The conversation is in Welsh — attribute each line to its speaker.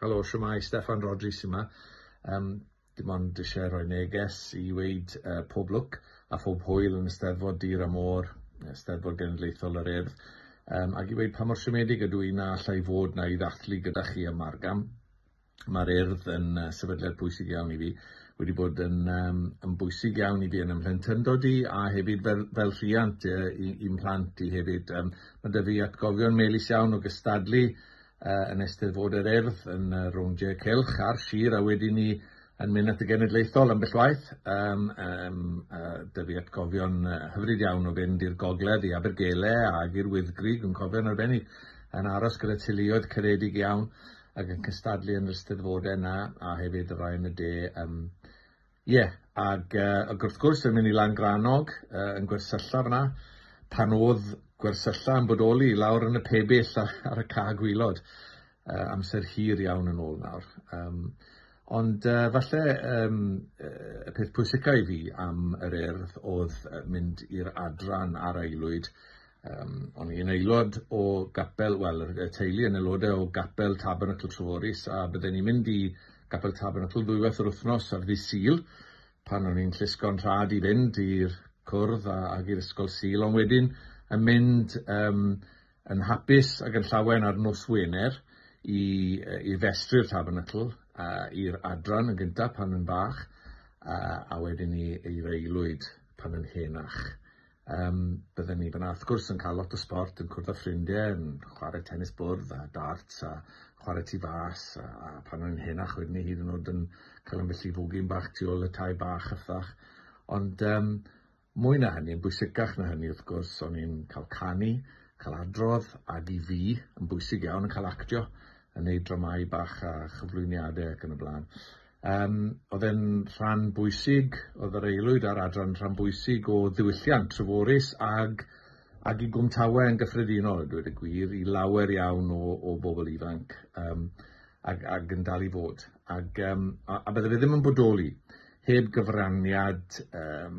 Speaker 1: Helo, siwmai, Steffan Rhodri sy 'ma. Um, dim ond eisiau rhoi neges i weid uh, pob lwc a phob hwyl yn y Steddfod Dir a Môr, Steddfod Genedlaethol yr Urdd, um, ac i weid pa mor siomedig ydw i na allai fod na i ddathlu gyda chi y Margam. Mae'r Urdd yn uh, sefydliad pwysig iawn i fi, wedi bod yn, um, yn bwysig iawn i fi yn ymhlentyndod i a hefyd fel, fel rhiant uh, i'n mhlant i hefyd. Um, mae dy fi atgofion melus iawn o gystadlu uh, yn Eisteddfod yr Urdd yn uh, rowndiau cylch a'r sir a wedyn ni yn mynd at y genedlaethol ambell waith. Um, um, uh, dy fi atgofion uh, hyfryd iawn o fynd i'r gogledd i Abergele ac i'r Wyddgrig yn cofio'n arbennig yn aros gyda teuluoedd caredig iawn ac yn cystadlu yn yr ysteddfodau yna a hefyd y rai yn y de um, Ie, ag yy ag wrth gwrs yn mynd i lan Granog yy yn gwersylla f'na, pan o'dd gwersylla yn bodoli lawr yn y pebyll a- ar y ca' gwilod, yy amser hir iawn yn ôl nawr. Yym ond yy falle yym yy y peth pwysica i fi am yr Urdd o'dd yy mynd i'r adran ar Aelwyd Um, o'n i'n aelod o gapel, wel, y teulu yn aelodau o gapel Tabernacl Treforys, a byddwn ni'n mynd i gapel Tabernacl ddwywaith yr wythnos ar ddi Sil, pan o'n i'n llusgo'n rhad i fynd i'r cwrdd a, ag i'r ysgol Sil, ond wedyn yn mynd um, yn hapus ac yn llawen ar nos Wener i, i festru'r Tabernacl a i'r adran yn gyntaf pan yn bach, a, a wedyn i, i'r aelwyd pan yn henach. Yym, bydden ni fyna, wrth gwrs, yn cael lot o sbort, yn cwrdd â ffrindie, yn chware tenis bwrdd a darts a chware tu fas, a, a pan o'n i'n henach wedyn ni hyd yn oed yn cael ambell i fwgyn bach tu ôl y tai bach a ffach. Ond um, mwy na hynny, yn bwysicach na hynny wrth gwrs, o'n i'n cael canu, cael adrodd, ac i fi, yn bwysig iawn, yn cael actio, yn neud dramau bach a chyflwyniadau ac yn y blaen. Yym, oedd e'n rhan bwysig, oedd yr aelwyd a'r adran rhan bwysig o ddiwylliant Treforys ag ag i Gwmtawe yn gyffredinol a dweud y gwir, i lawer iawn o o bobl ifanc yym ag ag yn dal i fod. Ag yym a a bydde fe ddim yn bodoli heb gyfraniad yym